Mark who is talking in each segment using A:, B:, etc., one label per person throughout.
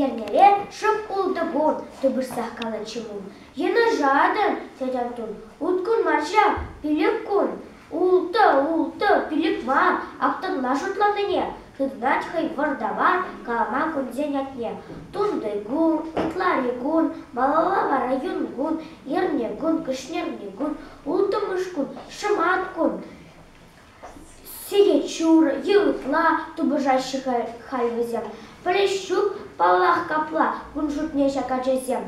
A: Эрнере шӑп ултӑ кун тупӑшсах калатчӗ мун. Йынӑшатӑн, тет Антун. Уткун мар ҫав, пилӗк кун. Ултӑ, ултӑ, пилӗк-ва, актӑрла шутланине, тытӑнать хӑй вӑртава калама кунсен ятне. Тунти кун, ытлари кун, малалла вара юн кун, эрне кун, кӗҫнерни кун, улттӑмӗш кун, шӑмат кун. Сехет ҫурӑ, йывӑртла тупӑшаҫҫӗ халь вӗсем. Пӗлес ҫук, паллах, капла, кун шутне ҫак ачасем.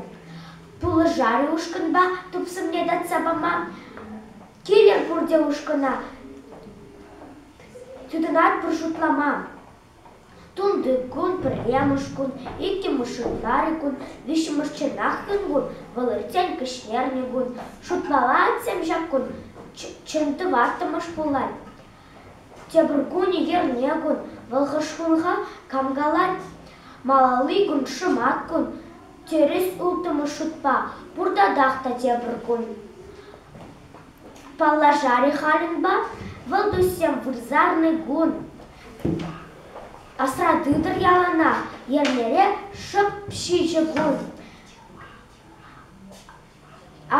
A: Пулӑшар-и ушкӑнпа тупсӑмне татса пама? Килӗр пурте ушкӑна. Тытӑнатпӑр шутлама. Тунти кун, пӗрремӗш кун, иккӗмӗш январь кун, виҫҫӗмӗш чӑнахкӑн кун, вӑл иртсен кӗҫнерни кун. Шутланатсем ҫак кун чӑн тӑваттӑмӗш пулать. Тепӗр кунӗ ерне кун, вӑл хӑш кунха кам-калать. Малалли кун шӑмат кун, тӗрӗс улттӑмӗш шутпа, пуртатах та тепӗр кун. Паллашар-и халӗн ба? Вӑл туссем вырсарни кун. Асра тытӑр ялана, йӗрлере шӑп ҫичӗ кун.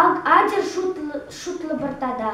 A: Ак ачӑр шутлӑ пӑр тата.